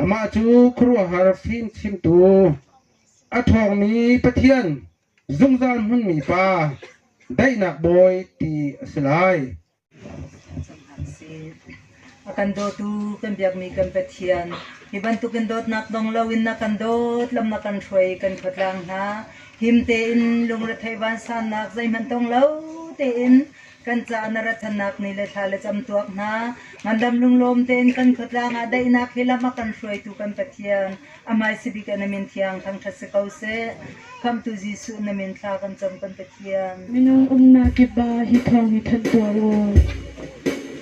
Amah cu khuaruahhar fimchimtu, a ṭhawngmi Pathian, zungzal hmunmi Pa, daihnak Bawi ti a si lai. An si. A kan dawtu kan biakmi kan Pathian, hi bantukin dawtnak dong loin na kan dawt lam na kan hruai kan khuatlang hna. Him tein lungretheih vansannak zeihmanh tong lo tein Kan tla na rat thannak ni le thla le cam tuak hna. Ngandam lunglawm tein kan khuatlang ah daihnak hi lam a kan hruaitu kan Pathian amai sibik na min thiang thangthat si ko seh. Khamhtu Jesuh na min thla kan cam kan Pathian. Minung umnak kipah hi thawng i thanh tuah u.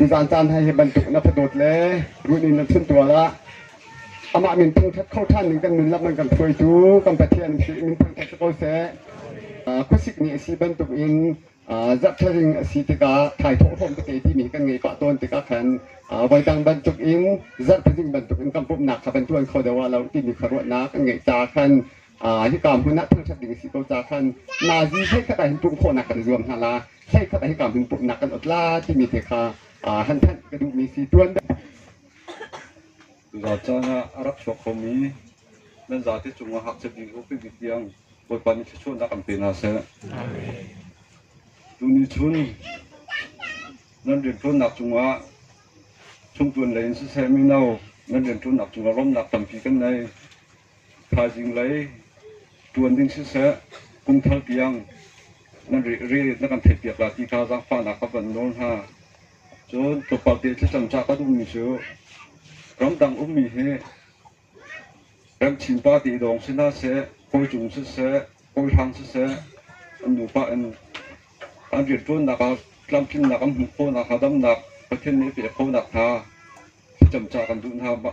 Mizaan caan hna hi bantuk in a thadawt le ruih in a thuntual ah amah min thangṭhat kho ṭhan ding kan nun lak nan kan hruaitu kan Pathian si min thangṭhat si ko seh. Khuasik ni a si bantuk in zarhthlading a si tikah thaithawh hlawm tete timi kan ngei pah tawn tikah khan voidang bantuk in zarhthlading bantuk in kan pumhnak kha kan ṭuan kho deuh ah lo timi kha ruahnak kan ngeih caah khan hika hmun ah thangṭhat ding a si ko caah khan nazi hleikhat ah hin pumh khawhnak kan i zuam hna la hleikhat ah hika hmun pumhnak kan ot la timi te kha han thanh ka duhmi si tuan Zaa caan ah a rak chuak khomi nan zate cungah hakchep ding ko pipi tiang Bawipa nih thluachuahnak an pe hna seh. Tuni chun nan rianṭuannak cungah chungṭuan lei in siseh mino nan rianṭuannak cungah lawmhnak tampi kan nei. Thaizing lei ṭuan ding siseh, kumthar tiang na kan theihpiak lai ti kha zaangfahnak ka van nawl hna. Cun tlawmpal te thlacam ca ka duhmi cu ramdang ummi hi rem chinpa te dawng si hna seh, kawi cung siseh, kawi hrang siseh, an nupa in an rianṭuannak ah tlamtlinnak an hmuh khawhnak hnga damnak Pathian nih a pek khawhnak hnga thlacam ca kan duh hna.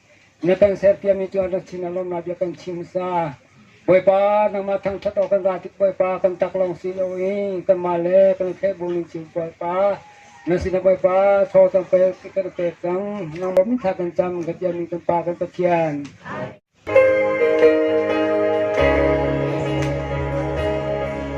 Na kan serpiami cu an rak chin a lawmnak bia kan chim hmasa. Bawipa, nangmah thangṭhat awk kan ra tik Bawipa, kan tak lawng si lo i kanmah le kan i thlehbung in cun Bawipa, na sinah Bawipa thaw kan pek ti kan i pek cang. Nangmah mintha kan cam, kan tialmi kan Pa kan Pathian.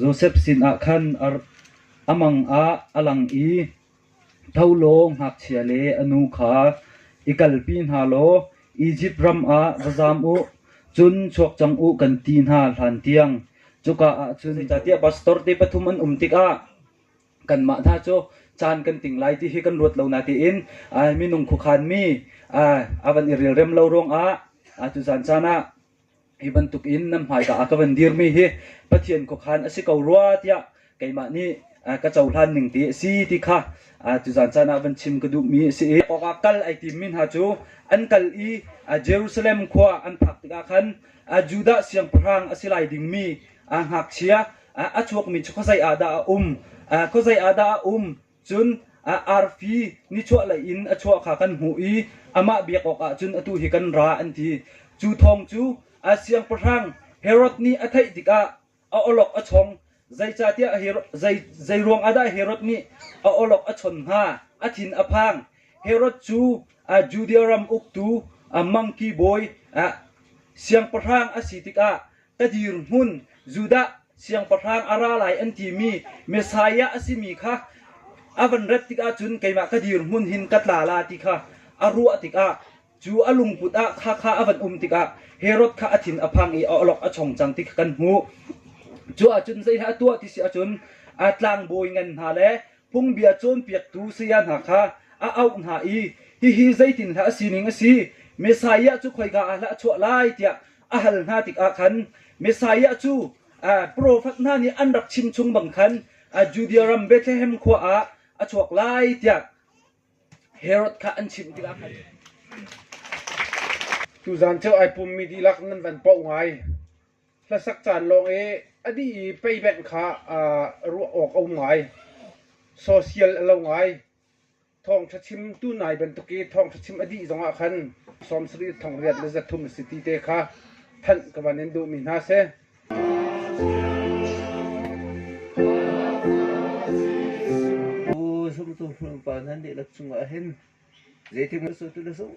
Josef sinah khan a mang ah a lang i tho law ngakchia le a nu kha i kalpi hna law Izipt ram ah va zam u, cun chuak cang u, kan ti hna hlantiang. Cuka ah cun zeicahtiah pastor te pathum an um tikah kanmah hna cu caan kan ting lai ti hi kan ruat lo na tiin ai minung khuakhanmi a van i relrem lo ruangah cucaan caan ah Hi bantukin nan hmaika ah ka van dirmi hi Pathian khuakhan a si ko rua tiah keimah nih ka cohlan ning ti a si ti kha tuzaan caan ah van chim ka duhmi a si i awkah kal ai timmi hna cu an kal i Jerusalem khua an phak tikah khan Judah siangpahrang a si lai dingmi ngakchia a chuakmi cu khuazei ah dah a um? Khuazei ah dah a um? Cun arfi nichuahlei in a chuah kha kan hmuh i amah biak awkah cun atu hi kan ra, an ti. Cu thawng cu a siangpahrang Herod nih a theih tikah a awlok a chong. Zeicahtiah zei ruangah dah Herod nih a awlok a chon hnga? A thin a phang. Herod cu Judea ram uktu mangki bawi siangpahrang a si tikah Ka dirhmun, Judah siangpahrang a ra lai an timi Messiah a simi kha a van rat tikah cun keimah ka dirhmun hin ka tla la ti kha a ruah tikah cu a lungput ah khakha a van um tikah Herod kha a thin a phang i a olok a chong cang ti kha kan hmuh. Cuah cun zeihlah a tuah ti si ahcun a tlangbawi ngan hna le phungbia cawnpiaktu saya hna kha a auh hna i hihi zeitindah a sining a si? Messiah cu khoika ah hlah a chuah lai tiah a hal hna tikah khan Messiah cu profet hna nih an rak chimchung bang khan a Judea ram Bethlehem khua ah a chuak lai tiah Herod kha an chimh tikah khan tuzan cu ai pummi dihlak nan van poh ngai hlasak caan lawng i a dih i payback kha ruah awk a um ngai social a lo ngai Thawngṭha chim tu nai bantuk i thawngṭha chim a dih zongah khan sawm sarih thongliat le zathum na si ti te kha thanh ka van in duhmi hna seh. Aw zumtu upa hna dihlak cungah hin zeitik na sawtu na sung